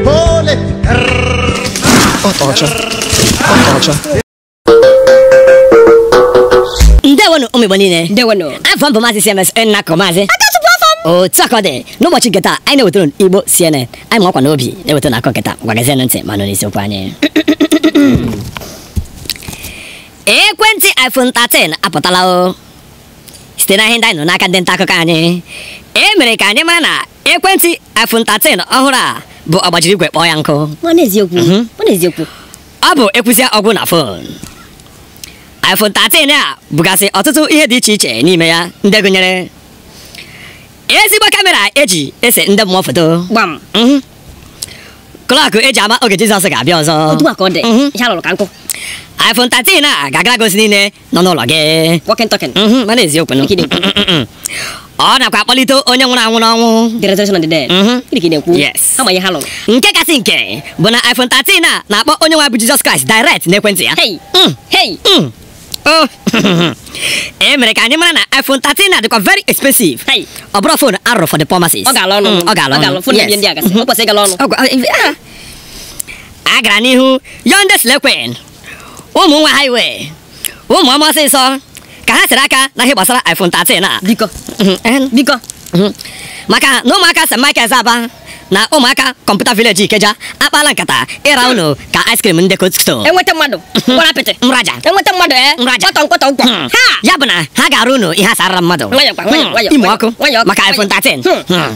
Ole! Ọcha. Ọcha. ndewonụ ụmụ igbo niile ndewonụ afa m bụ maazị cms nnakọ maazị otu aka ọ dị n'ụbọchị nke taa anyị na-ewetara unu igbo cnn anyị makwa n'obi na-ewetara akọ nke taa gwagazienụ ntị ma nụ n'isiokwu anyị ekwentị iphone 13 apụtala o site na ihe ndị anyị nụ n'aka ndị nta akụkọ anyị e mere ka anyị mara na ekwentị iPhone 13 ọhụrụ a bụ ọgbajiri igwe kpọọ ya nkụ mhm. ọ bụ ekwusịa ọ gwụ na fon iPhone 13 a bugasị ọtụtụ ihe dị iche iche n'ime ya ndị gụnyere ezigbo kamera eji ese ndị mmụọ foto mhm. klọkụ eji ama oge Jizọs ga-abịa ọzọ mhm. iPhone 13 a ga-agara gị ozi niile nọ n'ụlọ gị Walking talking. Mhm, mana eziokwu nụ. Ikide ekwu. ọ nakwa akpọlite onye nwụrụ anwụ n'ọnwụ The resurrection of the dead. Mhm. Gịnị ka ị na-ekwu? Yes. Ha ma ihe ha lụrụ. nke kasị nke bụ na iphone 13 a na-akpọ onye nwe bụ jizọs kraịst direct n'ekwentị ya Hey. Mm. Hey. Mm. Oh. e mere ka anyị mara na iphone 13 a dịkwa very expensive Hey. ọ bụrọ fon a rụrụ for the poor masses Ọ gala ọnụ. Mm, ọ gala ọnụ. Fon Yes. ndị ndị a gasị. O kwesịrị ịgala ọnụ. Ọ gwa- ah. a gara n'ihu yọọ ndị slay queen ụmụ nwa highway ụmụ ọma ọsịsọ ka ha sere aka na ihe gbasara iPhone 13 a biko mhm, eh, biko mhm. maka na ụmụaka St. Michael's Aba na ụmụaka Computer Village Ikeja akpaala nkata ịra hmm. unu ka ice cream ndị Coldstone e nweta mmadụ hmm. gwara apịtị mraja e nweta mmadụ ee eh? mraja kpọtọ nkwọtọ nkwọ hmm. ya bụ na ha ga-arụ unu ihe asarara mmadụ ime ọkụ maka iPhone 13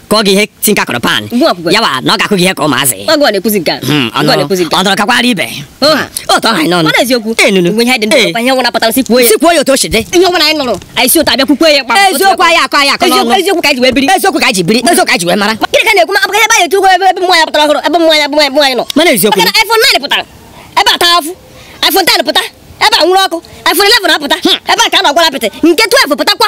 ka ọ ga ihe tinka kụrụ pan ya wụ na ọ ga-akụ gị ihe ka ụmụazị hmm, ọ nọrọ kakwara ibe otu ọ ha n'ọnụ si kwuo ya otu o si dị eziokwu anaghị akọ anyị akọ eziokwu ka anyị ji wee biri eziokwu ka anyị ji biri eziokwu ka anyị ji wee mara gịnị ka ị na-ekwu maka ebe anyị etu ebe mmụọ ya pụtara ọhụrụ ebe mmụọ ya mmụọ anyị nọ mana eziokwu maka na iPhone 9 pụtara ebe a taa afụ iPhone 10 pụta ebe a nwuru ọkụ iPhone 11 apụta hmm. ebe a ka a na-agwara apịtị nke 12 pụtakwa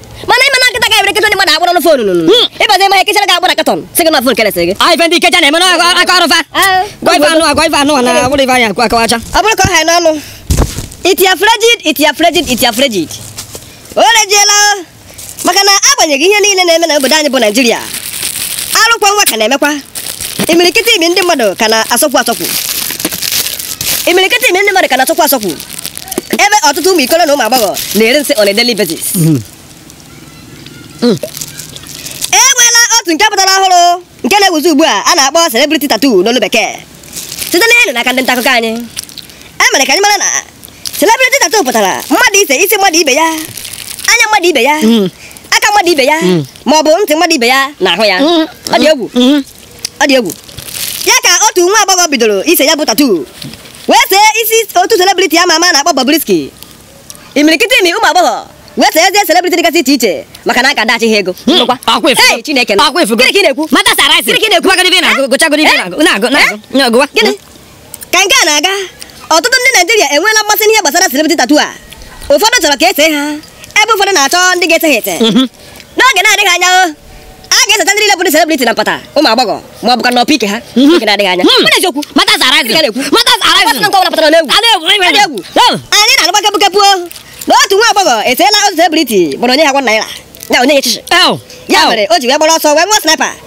mana ị ma na kịta ka ebere kịta ndị mmadụ akpọrọ n'ofe onunu hmm. ịbazi ịma e kechara gị akpọrọ katọn sị gị na fon kelesị gị ife ndị Ikeja na-eme n'aka ọrụ fa ah. gwa ife anụ agwa ife anụ na wụrụ ife anya akawacha ọ bụrụ ka ọ ha n'ọnụ iti ya frejid iti ya frejid iti ya frejid o rejiela maka na agbanyeghị ihe niile na-eme na obodo anyị bụ naijiria arụ kwọ nwa ka na-emekwa imirikiti imi ndị mmadụ ka na-asọkwu asọkwu imirikiti imi ndị mmadụ ka na-asọkwu asọkwu ebe ọtụtụ ụmụ ikoro na ụmụ agbọghọ na-eri nsị on a daily basis hmm. Hmm. e nweela otu nke pụtara ọhụrụ nke na-ewuzi ugbu a a na-akpọ celebrity tattoo n'olu bekee site na ihe n'aka ndị nta akụkọ anyị e mere ka anyị mara na celebrity tattoo pụtara mmadụ ise isi mmadụ ibe ya anya mmadụ ibe ya hmm. aka mmadụ ibe ya ma ọ bụ ntị mmadụ ibe ya na ahụ ya ọ dị egwu ọ dị egwu ya ka otu nwa agbọghọ bidoro ise ya bụ tattoo wee see isi otu celebrity ama ama a na-akpọ Bobrisky imirikiti imi ụmụ agbọghọ wee seezie celebrity dịgasị iche iche maka na a ga-adashị ha ego Hmm. Ngwa, akwa efugo. Hey, Chineke nọ. Akwa efugo. Gịnị ka ị na-ekwu Matters arising. Gịnị ka ị na-ekwu? Gụchagodi ife ị na-agụ, gụchagodi ife ị na-agụ, na-agụ, na-agụ, gụwa. Gịnị? ka nke a na-aga ọtụtụ ndị naijiria enweela mmasị n'ihe gbasara celebrity tattoo a ụfọdụ chọrọ ka e see ha ebe ụfọdụ na-achọ ndị ga-ete ha ete mhm. n'oge na-adịghị anya o a ga-eseta ndị niile bụ ndị celebrity na mpata ụmụ agbọghọ ma ọ bụkwa na ọpụ ike ha mhm. n'oge na-adịghị anya hmm. eziokwu matters arising matters arising nke ọbụla pụtara n'egwu egwu hmm. anyị na-anụkwa kepụkepụ na otu nwa agbọghọ eteela otu celebrity gbọrọ o nyeghị ya one naira ya o nyeghị ya shishi ya mere o ji wee gbara ọsọ wee ṅụọ sniper